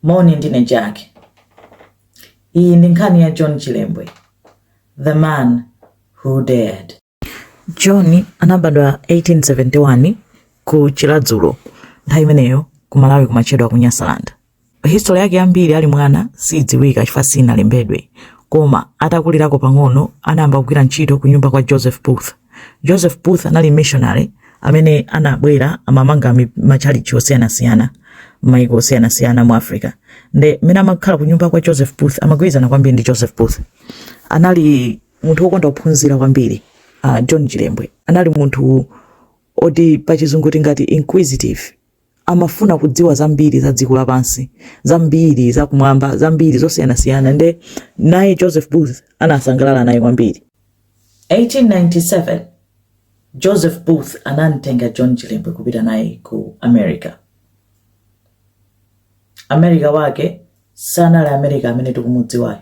Moni, ndine Jack. Iyi ndi nkhani ya John Chilembwe, The Man Who Dared. John anabadwa 1871 ku Chiradzulu, nthawi imeneyo ku Malawi kumatchedwa kuti Nyasaland. History yake yambiri ali mwana siidziwika chifukwa sinalembedwe, koma atakulirako pang'ono anayamba kugwira ntchito ku nyumba kwa Joseph Booth. Joseph Booth anali missionary amene anabwera amamanga matchalitchi osiyanasiyana m'mayiko osiyanasiyana mu Africa. Nde mmene amakhala ku nyumba kwa Joseph Booth amagwirizana kwambiri ndi Joseph Booth. Anali munthu wokonda kuphunzira kwambiri. Uh, John Chilembwe anali munthu oti pachizungu tingati inquisitive amafuna kudziwa zambiri za dziko lapansi zambiri za kumwamba zambiri zosiyanasiyana nde naye joseph booth anasangalala naye kwambiri 1897 joseph booth anamtenga john chilembwe kupita naye ku america america wake sanali america amene tikumudziwayo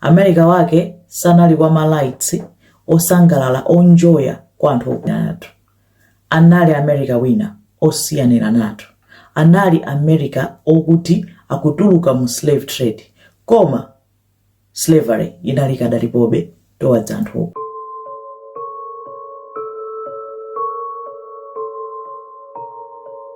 america wake sanali kwa malights osangalala onjoya kwa anthu okudatu anali America wina osiyaniranatu, anali America okuti akutuluka mu slave trade koma slavery inali ikadalipobe towards anthu okuda.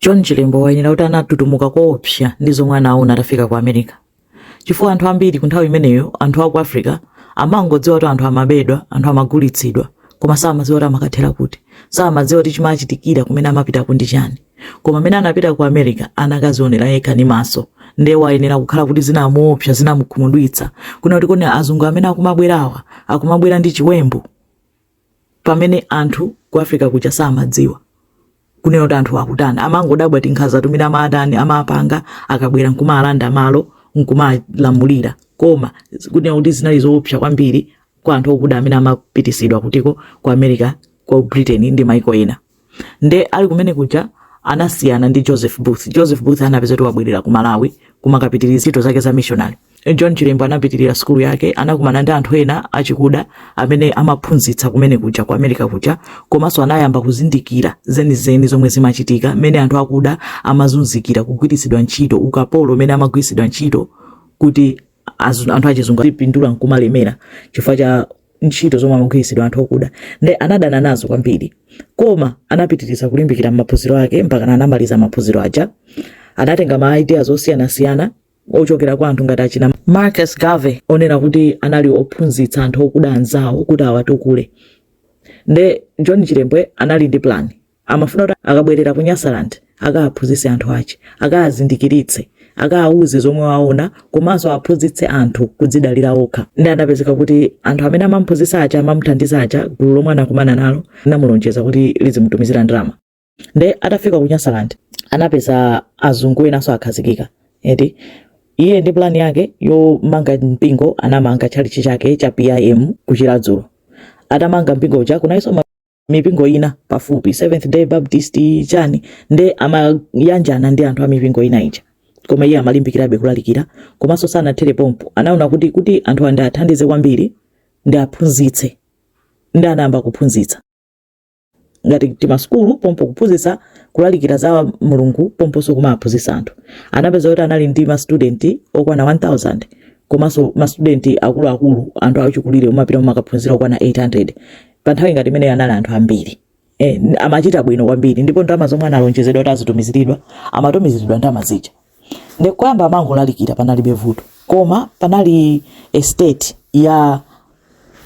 john chilembwe wayenera kuti anatutumuka koopsa ndi zomwe anaona atafika ku america chifukwa anthu ambiri ku nthawi imeneyo anthu aku africa amangodziwa kuti anthu amabedwa anthu amagulitsidwa koma samadziwa kuti amakathera kuti samadziwa kuti chimachitikira kumene amapita ko ndi chani koma mmene anapita ku america anakazionera yekha ndi maso nde wayenera kukhala kuti zinamuopsa zinamukhumudwitsa kuona kuti kodi azungu amene akumabwerawa akumabwera ndi chiwembu pamene anthu ku africa kuja samadziwa kunena kuti anthu akutani amangodabwa tinkhaza timene amatani amapanga akabwera nkumalanda malo nkumalamulira koma kunena kuti zinali zoopsa kwambiri kwa anthu akuda amene amapitisidwa kuti ko ku america ku britain ndi maiko ena nde ali kumene kuja anasiyana ndi joseph booth joseph booth anapeza kuti wabwerera ku malawi kumakapitiriza ntchito zake za missionary john chilembwe anapitirira sukulu yake anakumana ndi anthu ena achikuda amene amaphunzitsa kumene kuja ku america kuja komanso anayamba kuzindikira zenizeni zomwe zimachitika mmene anthu akuda amazunzikira kugwiritsidwa ntchito ukapolo mmene amagwiritsidwa ntchito kuti azu- anthu achizungu apindula nkumalemera chifukwa cha ntchito zomwe amagwiritsidwa anthu okuda nde anadana nazo kwambiri koma anapitiriza kulimbikira maphunziro ake mpaka anamaliza maphunziro aja anatenga ma ideas osiyanasiyana ochokera kwa anthu ngati achina marcus garvey onena kuti anali ophunzitsa anthu okuda anzawo kuti awatukule nde john chilembwe anali ndi plan amafuna kuti akabwerera ku nyasaland akaaphunzitse anthu ache akaazindikiritse akaawuze zomwe waona komanso aphunzitse anthu kudzidalira okha nde anapezeka kuti anthu amene amamphunzitsa aja amamuthandiza aja gulu lomwe anakumana nalo linamulonjeza kuti lizimutumizira ndalama nde atafika ku nyasaland anapeza azungu enanso akhazikika eti iye ndi plan yake yomanga mpingo anamanga tchalichi chake cha pim ku chiradzulu atamanga mpingo uja kunalinso mipingo ina pafupi seventh day baptist chani nde amayanjana ndi anthu a mipingo ina ija koma iye amalimbikirabe kulalikira komanso sanathere pompo anaona kuti kuti anthuwa ndiwathandize kwambiri ndiwaphunzitse nde anayamba kuphunzitsa ngati timasukulu pompo kuphunzitsa kulalikira za mulungu pomponso kumaphunzitsa anthu anapeza kuti anali ndi mastudenti okwana 1000 komanso mastudenti akuluakulu anthu achikulire omapita kumakaphunzira okwana 800 pa nthawi ngati imeneyo anali anthu ambiri eh, amachita bwino kwambiri ndipo ndalama zomwe analonjezedwa kuti azitumiziridwa amatumiziridwa ndalama zija nde poyamba amangolalikira panalibe vuto koma panali estate ya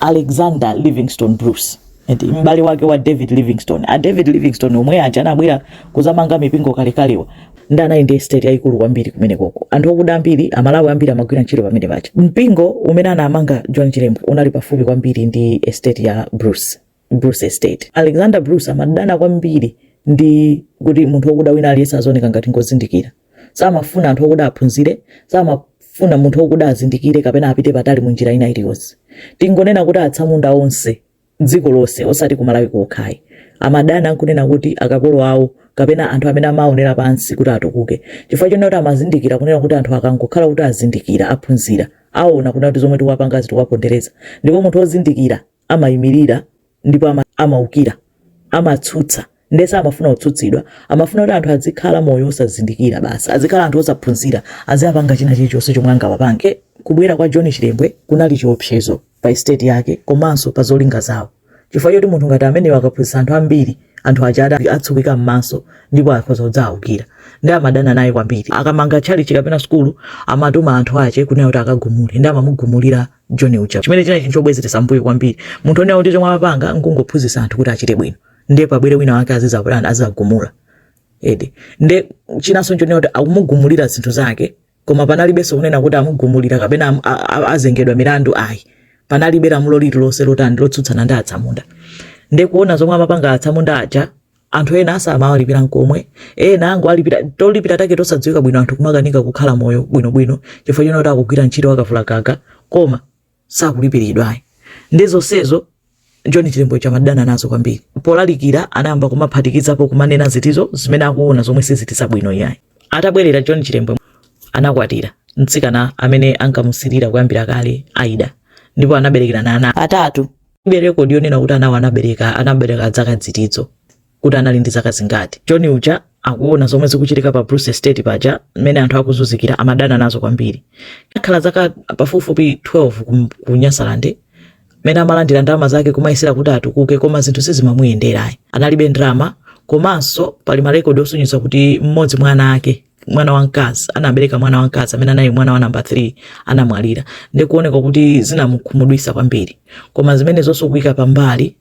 alexander livingstone bruce eti m'bale wake wa david livingstone a david livingstone omwe aja anabwera kuzamanga mipingo kalekalewa nde anali ndi estate yayikulu kwambiri kumenekoko anthu okuda ambiri amalawi ambiri amagwira ntchito pamenepaja mpingo umene anamanga john chilembwe unali pafupi kwambiri ndi estate ya bruce bruce estate alexander bruce amadana kwambiri ndi kuti munthu wokuda wina aliyense azooneka ngati ngozindikira samafuna anthu okuda aphunzire samafuna munthu okuda azindikire kapena apite patali mu njira ina iliyonse tingonena kuti atsamunda onse dziko lonse osati ku malawi kokha ayi amadana nkunena kuti akapolo awo kapena anthu amene amaonera pansi kuti atukuke chifukwa chonena kuti amazindikira kunena kuti anthu akangokhala kuti azindikira aphunzira aona kunena kuti zomwe tikuwapanga ndi tikuwapondereza ndipo munthu wozindikira amayimirira ndipo ama- amaukira amatsutsa nde samafuna kutsutsidwa amafuna kuti anthu azikhala moyo osazindikira basi azikhala anthu osaphunzira aziwapanga china chilichonse chomwe angawapange kubwera kwa john chilembwe kunali chiopsezo pa estate yake komanso pa zolinga zawo chifukwa choti munthu ngati ameneyo akaphunzitsa anthu ambiri anthu aja adzatsekuka m'maso ndipo akhoza kudzaawukira nde amadana naye kwambiri akamanga tchalichi kapena sukulu amatuma anthu ache kunena kuti akagumule nde amamugumulira john uja chimene chinali chinthu chobwezeretsa mbuyo kwambiri munthu onena kuti chomwe amapanga nkungophunzitsa anthu kuti achite bwino nde pabwere wina wake azizapanga azizagumula eti nde chinanso nchonena kuti akumugumulira zinthu zake koma panalibenso kunena kuti amugumulira kapena am- a- a- azengedwa milandu ayi panalibe lamulo lililonse lotani lotsutsana ndi atsamunda nde kuona zomwe amapanga atsamunda aja anthu ena asamawalipira nkomwe ena angowalipira tolipira take tosadziwika bwino anthu kumakanika kukhala moyo bwinobwino chifukwa chonena kuti akugwira ntchito yakalavula gaga koma sakulipiridwa ayi ndi zonsezo John Chilembwe ja amadana nazo kwambiri polalikira anayamba kumaphatikizapo kumanena zinthuzo zimene akuona zomwe sizili bwino iyayi atabwerera John Chilembwe anakwatira mtsikana amene ankamusirira kuyambira kale Ida ndipo anaberekerana ana atatu ilibe rekodi yonena kuti anawo anabereka anabereka zaka zitizo kuti anali ndi zaka zingati john uja akuona zomwe zikuchitika pa bruce estate paja mmene anthu akuzunzikira amadana nazo kwambiri atakhala zaka pafupifupi 12 ku- ku nyasaland mmene amalandira ndalama zake kumayesera kuti atukuke koma zinthu sizimamuyendera ayi analibe ndalama komanso pali marekodi osonyeza kuti mmodzi mwa ana ake mwana wamkazi anabereka mwana wamkazi amene anali mwana wa namba 3 anamwalira ndikuoneka kuti zinamukhumudwitsa kwambiri koma zimenezo zonse kuyika pambali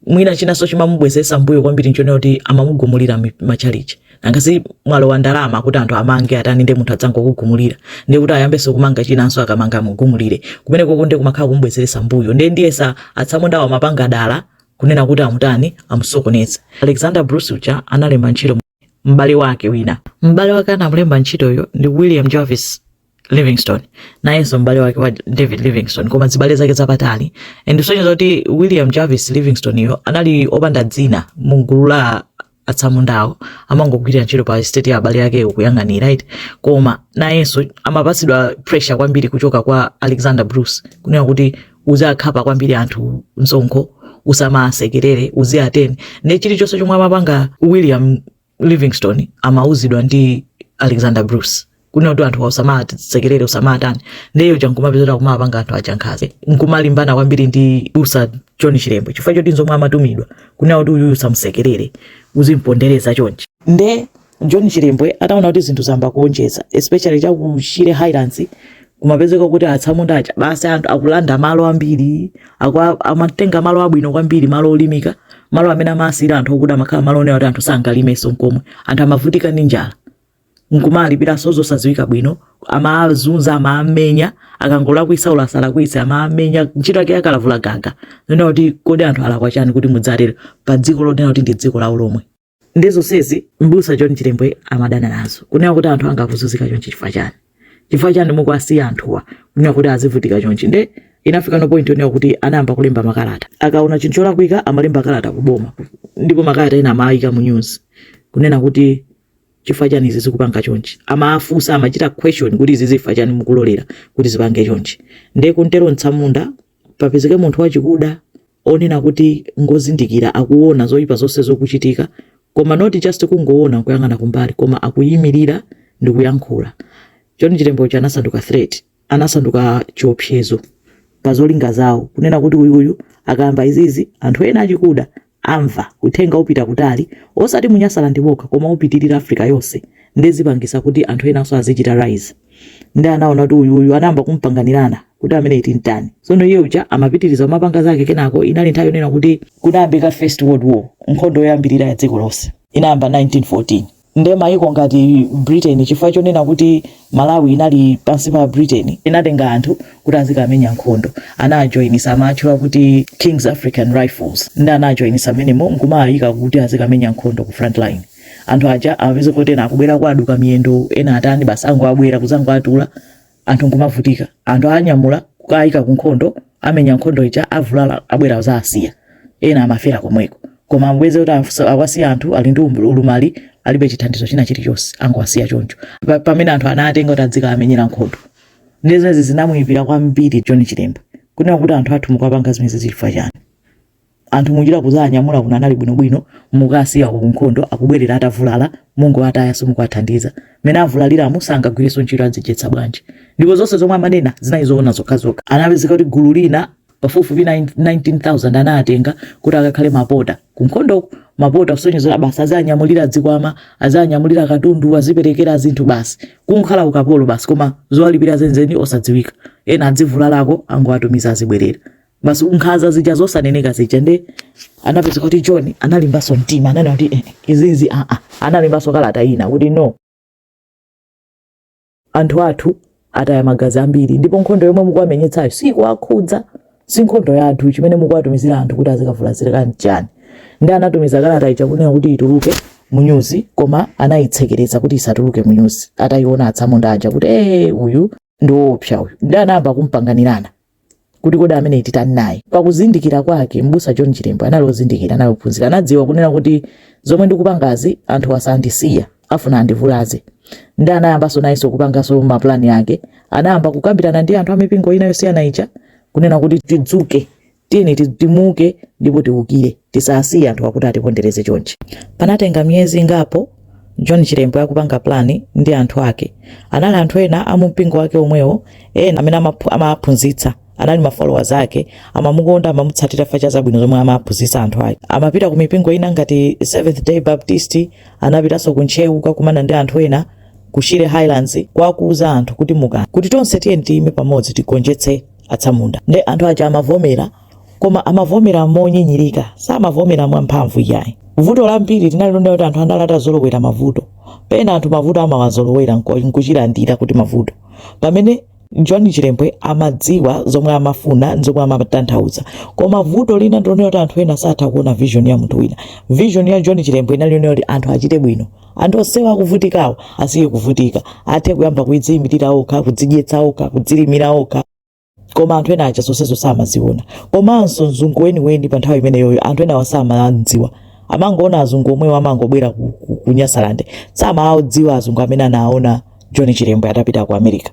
mwina chinanso chimamubwezeretsa mbuyo kwambiri nchonena kuti amamugumulira machalichi nanga si mwalowa ndalama kuti anthu amange atani ndi munthu adzangokugumulira ndi kuti ayambenso kumanga chinanso akamanga amugumulire kumeneko nde kumakhala kumubwezeretsa mbuyo ndi ndiyesa atsamundawo amapanga dala kunena kuti amutani amusokoneze alexander bruce uja analemba ntchito m'bale wake wina m'bale wake anamulemba ntchitoyo ndi william jervis livingstone nayenso m'bale wake wa david livingstone koma chibale chake chapatali and zosonyeza zoti william jervis livingstone yo anali opanda dzina mu gulu la atsamundawo amangogwira ntchito pa estate ya abale ake kuyang'anira right koma nayenso amapatsidwa pressure kwambiri kuchoka kwa alexander bruce kunena kuti uziwakhapa kwambiri anthu msonkho usamasekerere uziwatani ndi chilichonse chomwe amapanga william livingstone amauzidwa ndi alexander bruce kunena kuti anthu usamawasekerere usamawatani nde iye uja nkumapezeka kuti akumapanga anthu aja nkhanza nkumalimbana kwambiri ndi m'busa john chilembwe chifukwa choti nzomwe amatumidwa kunena kuti uyuyu usamusekerere uzimpondereza chonchi nde john chilembwe ataona kuti zinthu zayamba kuonjeza especially cha ku shire highlands kumapezeka kuti atsamunda aja basi anthu akulanda malo ambiri akwa- amatenga malo abwino kwambiri malo olimika malo amene amasiyira anthu okuda amakhala malo onena kuti anthu sangalimenso nkomwe anthu amavutika ndi njala nkumawalipiranso zosadziwika bwino amawazunza amawamenya akangolakwitsa olo asalakwitse amawamenya ntchito yake yakalavula gaga kunena kuti kodi anthu alakwa chani kuti mudzatero pa dziko lonena kuti ndi dziko lawo lomwe ndi zonsezi mbusa john chilembwe amadana nazo kunena kuti anthu anga akuzunzika chonchi chifukwa chani chifukwa chani mukuwasiya anthuwa kunena kuti azivutika chonchi nde inafika no point yonena kuti anayamba kulemba makalata akaona chinthu cholakwika amalemba kalata kuboma ndipo makalata ena amaayika mu news kunena kuti chifukwa chani izi zikupanga chonchi amafunsa amachita question kuti izi chifukwa chani mukulolera kuti zipange chonchi nde kuntero mtsamunda papezeke munthu wachikuda onena kuti ngozindikira akuona zoyipa zonse zokuchitika koma not just kungoona nkuyang'ana kumbali koma akuyimirira ndi kuyankhula john chilembwe uja anasanduka threat anasanduka chiopsezo pa zolinga zawo kunena kuti uyu uyu akamba izizi anthu ena achikuda amva uthenga upita kutali osati mu nyasaland mokha koma upitirira africa yonse nde zipangitsa kuti anthu enanso azichita rise ndi anaona kuti uyu uyu anayamba kumpanganirana kuti ameneyu timtani tsono iye uja amapitiriza kumapanga zake kenako inali nthawi yonena kuti kunayambika first world war nkhondo yoyambirira ya dziko lonse inayamba 1914 nde mayiko ngati britain chifukwa chonena kuti malawi inali pansi pa britain inatenga anthu kuti azikamenya nkhondo anajoinisa amatchula kuti kings african rifles ndi anajoinisa mmenemo nkumawaika kuti azikamenya nkhondo ku front line anthu aja amapezeka kuti ena akubwera kwaduka miyendo ena atani basi angobwera kuzangowatula anthu nkumavutika anthu anyamula kukayika ku nkhondo amenya nkhondo ija avulala abwera kuzawasiya ena amafera komweko koma mpeze kuti afusa- awasiya anthu ali ndi umbu- ulumali alibe chithandizo china chilichonse angowasiya choncho Pa- pamene anthu anatenga kuti adzikawamenyera nkhondo nde zimenezi zinamuyipira kwambiri john chilembwe kunena kuti anthu athu mukuwapanga zimenezi chifukwa chani anthu munjira kuzawanyamula kuno anali bwinobwino mukawasiya ku nkhondo akubwerera atavulala mungowataya simukuwathandiza mene avulaliramu sangagwirenso ntchito adzidyetsa bwanji ndipo zonse zomwe amanena zinali zoona zokhazokha anapezeka kuti gulu lina pafupifupi 19000 anawatenga kuti akakhale mapota ku nkhondoko mapota kusonyeza basi aziwanyamulira zikwama aziwanyamulira katundu aziperekera zinthu basi kukhala ukapolo basi koma zowalipira zenzeni osadziwika ena adzivulalako angowatumiza azibwerera basi nkhanza zija zosaneneka zija nde anapezeka kuti john analimbanso mtima ananena kuti eh, izizi aa ah, ah. analembanso kalata ina kuti no anthu athu ataya magazi ambiri ndipo nkhondo yomwe mukuwamenyetsayo sikuwakhudza si nkhondo ya anthu chimene mukuwatumizira anthu kuti azikavulazirika nchani ndi anatumiza kalata ija kunena kuti ituluke munyuzi koma anayitsekereza kuti isatuluke munyuzi atayiona atsamunda aja kuti ee eh, uyu ndi woopsa uyu ndi anayamba kumpanganirana kuti kodi ameneyu titani naye pakuzindikira kwake mbusa john chilembwe anali ozindikira anali ophunzira anadziwa kunena kuti zomwe ndikupangazi anthu sandisiya afuna andivulaze ndi anayambanso nayenso kupanganso mapulani ake anayamba kukambirana ndi anthu amipingo ina yosiyana ija kunena kuti tidzuke tiyeni ti- timuke ndipo tiukire tisasiye anthu akuti atipondereze chonchi panatenga miyezi ingapo john chilembwe akupanga plani ndi anthu ake anali anthu ena amumpingo wake omwewo ena amene amaphu- amaphunzitsa anali mafollowers ake amamukonda amamutsatira chifukwa cha zabwino zomwe amaphunzitsa anthu ake amapita ku mipingo ina ngati seventh day baptist anapitanso ku ntcheu kukakumana ndi anthu ena ku shire highlands kukawauza anthu kuti muka kuti tonse tiyeni tiyime pamodzi tigonjetse atsamunda nde anthu aja amavomera koma amavomera monyinyirika samavomera mwamphamvu iyayi vuto lambiri linali lonena kuti anthu anali atazolowera mavuto pena anthu mavuto amawazolowera nko- nkuchilandira kuti mavuto pamene john chilembwe amadziwa zomwe amafuna ndi zomwe amatanthauza koma vuto lina ndilonena kuti anthu ena satha kuona vision ya munthu wina vision ya john chilembwe inali yonena kuti anthu achite bwino anthu onsewo akuvutikawo asiye kuvutika athe kuyamba kudziyimirira okha kudzidyetsa okha kudzilimira okha koma anthu ena aja zonsezo samaziona komanso mzungu weniweni pa nthawi imeneyoyo anthu enawa samadziwa amangoona azungu omwewo amangobwera ku, ku, ku nyasalande samaadziwa azungu amene anaona john chilembwe atapita ku america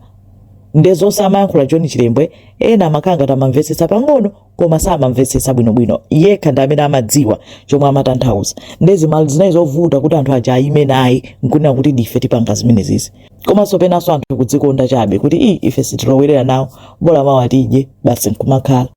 nde zonse amayankhula john chilembwe ena amakhala ngati amamvetsetsa pang'ono koma samamvetsetsa bwinobwino yekha ndi amene amadziwa chomwe amatanthauza nde zimali zinali zovuta kuti anthu aja ayime naye nkunena kuti ndife tipanga zimenezizi komanso penanso anthu kudzikonda chabe kuti i ife sitilowerera nawo bola mawa tidye basi nkumakhala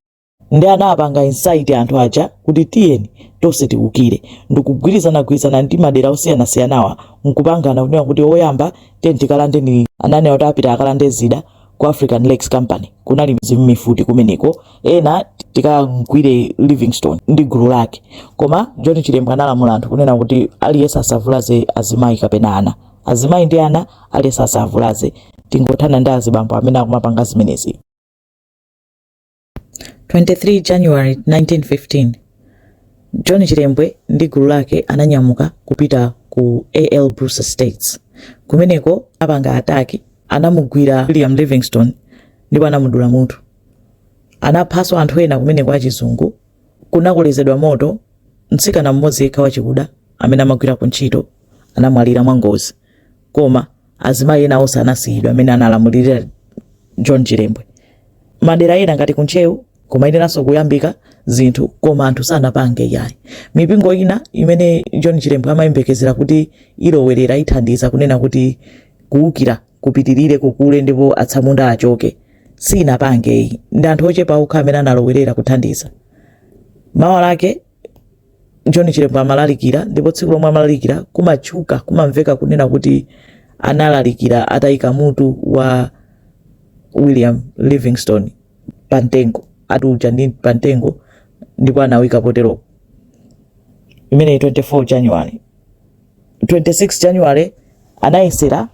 ndi anapanga incite anthu aja kuti tiyeni tonse tiukire ndikugwirizanagwirizana ndi madera osiyanasiyanawa nkupangana kunena kuti oyamba tiyeni tikalande ni ananena kuti apita akalande zida ku african lakes company kunali zi- mu- mifuti kumeneko ena tikamgwire livingstone ndi gulu lake koma john chilembwe analamula anthu kunena kuti aliyense asavulaze azimayi kapena ana azimayi ndi ana aliyense asavulaze tingothana ndi azibambo amene akumapanga zimenezi 23 January 1915, John Chilembwe ndi gulu lake ananyamuka kupita ku AL Bruce Estates. Kumeneko apanga ataki, anamugwira William Livingstone ndipo anamudula mutu. Anaphanso anthu ena kumeneko achizungu. Kunakolezedwa moto, mtsikana mmodzi yekha wachikuda amene amagwira ku ntchito anamwalira mwangozi. koma azimayi ena onse anasiyidwa mmene analamulirira john chilembwe madera ena ngati kuntcheu kumayeneranso kuyambika zinthu koma anthu sanapange yayi mipingo ina imene john chilembwe amayembekezera kuti ilowerere ithandize kunena kuti kuwukira kupitirire kukule ndipo atsamunda achoke sinapange iyi ndi anthu ochepa okha amene analowerera kuthandiza mawa lake John Chilembwe amalalikira ndipo tsiku lomwe amalalikira kumatchuka kumamveka kunena kuti analalikira atayika mutu wa William Livingstone pantengo atuja ndi pantengo ndipo anawika potero imeneyi 24 January 26 January anayesera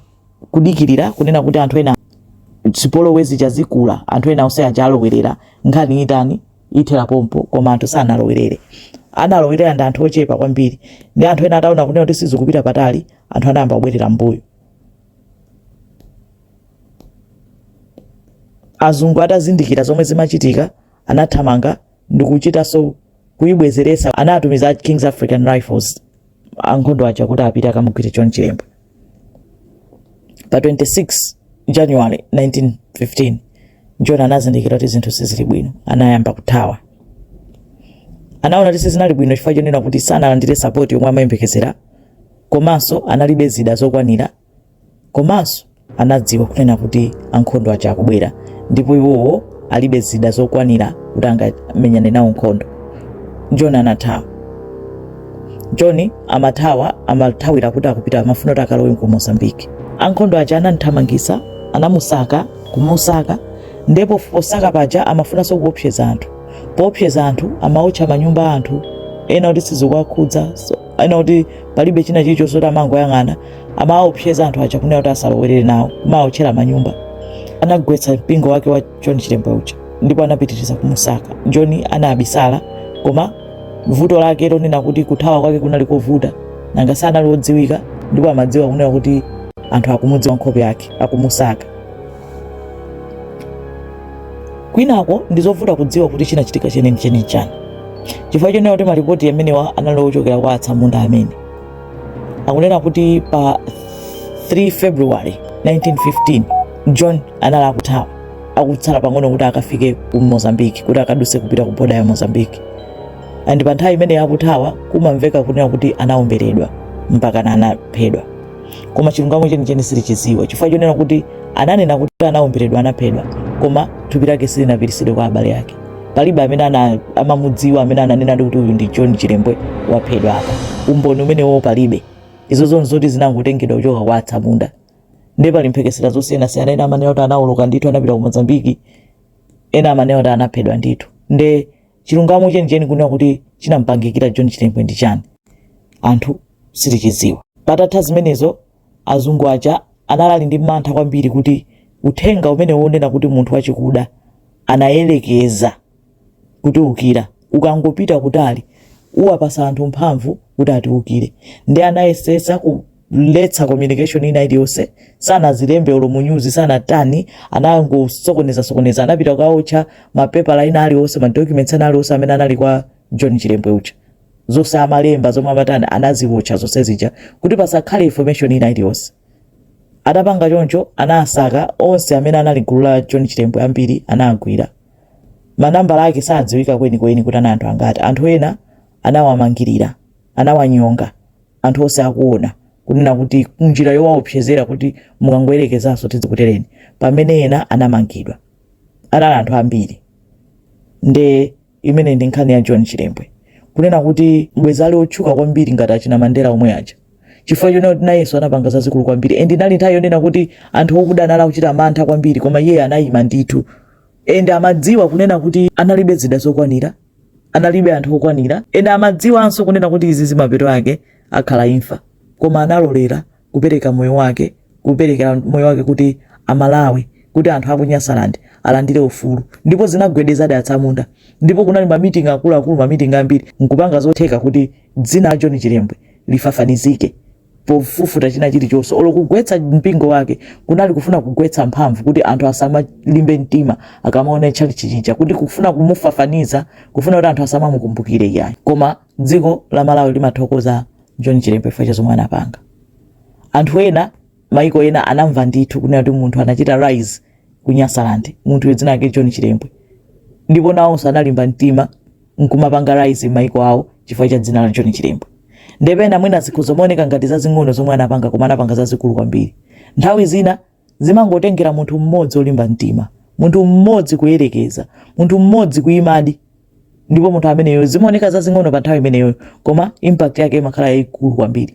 kudikirira kunena kuti anthu ena zipolowezi zizikula anthu ena onse aja alowerere nkhani itani ithera pompo koma anthu sanalowerere analowerera ndi anthu ochepa kwambiri nde anthu ena ataona kunena kuti sizikupita patali anthu anayamba kubwerera mbuyo azungu atazindikira zomwe zimachitika anathamanga ndi kuchitanso kuyibwezeretsa anatumiza kings african rifles ankhondo aja kuti apite akamugwire John Chilembwe. Pa 26 January 1915 John anazindikira kuti zinthu sizili bwino, anayamba kuthawa. Anaona kuti sizinali bwino chifukwa chonena kuti sanalandire sapoti yomwe amayembekezera komanso analibe zida zokwanira Komanso anadziwa kunena kuti ankhondo aja akubwera ndipo iwowo alibe zida zokwanira kuti angamenyane nawo nkhondo. John anathawa. John amathawa amathawira kuti akupita amafuna kuti akalowe ku Mozambique. Ankhondo aja anamthamangisa anamusaka kumusaka ndipo posaka paja amafunanso kuopseza anthu poopseza anthu amaotcha manyumba a anthu ena kuti sizikuwakhudzanso, ena kuti palibe china chilichonse kuti amangoyang'ana amawaopseza anthu aja kunena kuti asalowerere nawo kumawotchera manyumba anagwetsa mpingo wake wa john chilembwe uja ndipo anapitiriza kumusaka john anabisala koma vuto lake lonena kuti kuthawa kwake kunali kovuta nanga sanali wodziwika ndipo amadziwa kunena kuti anthu akumudziwa nkhope yake akumusaka kwinako ndi zovuta kudziwa kuti chinachitika chenicheni chani chifukwa chonena kuti malipoti amenewo anali ochokera kwa atsamunda amene akunena kuti pa 3 february 1915 john anali akuthawa akutsala pang'ono kuti akafike ku mozambique kuti akaduse kupita ku boda ya mozambique and pa nthawi imeneyo akuthawa kumamveka kunena kuti anaomberedwa mpakana anaphedwa koma chilungamo chenicheni sitichidziwa chifukwa chonena kuti ananena kuti anaomberedwa anaphedwa koma thupi lake silinapititsidwe kwa abale ake palibe amene ana- amamudziwa amene ananenadi kuti uyu ndi john chilembwe waphedwa apa umboni umenewo palibe izo zonse zoti zinangotengedwa kuchoka kwa atsamunda ndiye pali mphekesera zosiyanasiyana ena amanena kuti anawoloka ndithu anapita ku mozambiki ena amanena kuti anaphedwa ndithu nde chilungamo chenicheni kunena kuti chinampangikira john chilembwe ndi chani anthu sitichidziwa patatha zimenezo Azungu aja anali ali ndi mantha kwambiri kuti uthenga umenewu wonena kuti munthu wachikuda anayerekeza kutiukira ukangopita kutali, uwapasa anthu mphamvu kuti atiukire. Nde anayesetsa kuletsa communication ina iliyonse, sanazilembe olo mu news, sanatani, anangosokonezasokoneza. Anapita kukaotcha mapepala ena aliwonse, ma documents ena aliwonse amene anali kwa John Chilembwe uja. zonse amalemba zomwe amatani anaziwotcha zonse zija kuti pasakhale information ina iliyonse atapanga choncho anasaka onse amene anali gulu la john chilembwe ambiri anagwidwa manambala ake sadziwika kwenikweni kuti anali anthu angati anthu ena anawamangirira anawanyonga anthu onse akuona kunena kuti njira yowaopsezera kuti mukangoyerekezanso tidzikutereni pamene ena anamangidwa anali anthu ambiri nde Imeneyi ndi nkhani ya John Chilembwe kunena kuti bwezi ali otchuka kwambiri ngati achina Mandela omwe aja chifukwa chonena kuti nayenso anapanga zazikulu kwambiri and inali nthawi yonena kuti anthu okuda anali akuchita mantha kwambiri koma iye anayima ndithu and amadziwa kunena kuti analibe zida zokwanira analibe anthu okwanira and amadziwanso kunena kuti izi zimapeto ake akhala imfa koma analolera kupereka moyo wake kuperekera moyo wake kuti amalawi kuti anthu aku nyasaland alandire ufulu ndipo zinagwedezadi atsamunda ndipo kunali mamiting akuluakulu mamiting ambiri nkupanga zotheka kuti dzina la john chilembwe lifafanizike pofufuta china chilichonse olo kugwetsa mpingo wake kunali kufuna kugwetsa mphamvu kuti anthu asamalimbe mtima akamaona tchalitchi chija kuti kufuna kumufafaniza kufuna kuti anthu asamamukumbukire iyayi koma Dziko la Malawi limathokoza John Chilembwe chifukwa cha zomwe anapanga. Anthu ena maiko ena anamva ndithu kunena kuti munthu anachita rise ku Nyasaland, munthu dzina lake John Chilembwe, ndipo nawonso analimba mtima nkumapanga rise maiko awo chifukwa cha dzina la John Chilembwe. Nde pena mwina zikhoza kumaoneka ngati zazing'ono zomwe anapanga koma anapanga zazikulu kwambiri. Nthawi zina zimangotengera munthu mmodzi olimba mtima, munthu mmodzi kuyerekeza, munthu mmodzi kuimadi, ndipo munthu ameneyo zimaoneka zazing'ono pa nthawi imeneyo, koma impact yake imakhala yaikulu kwambiri.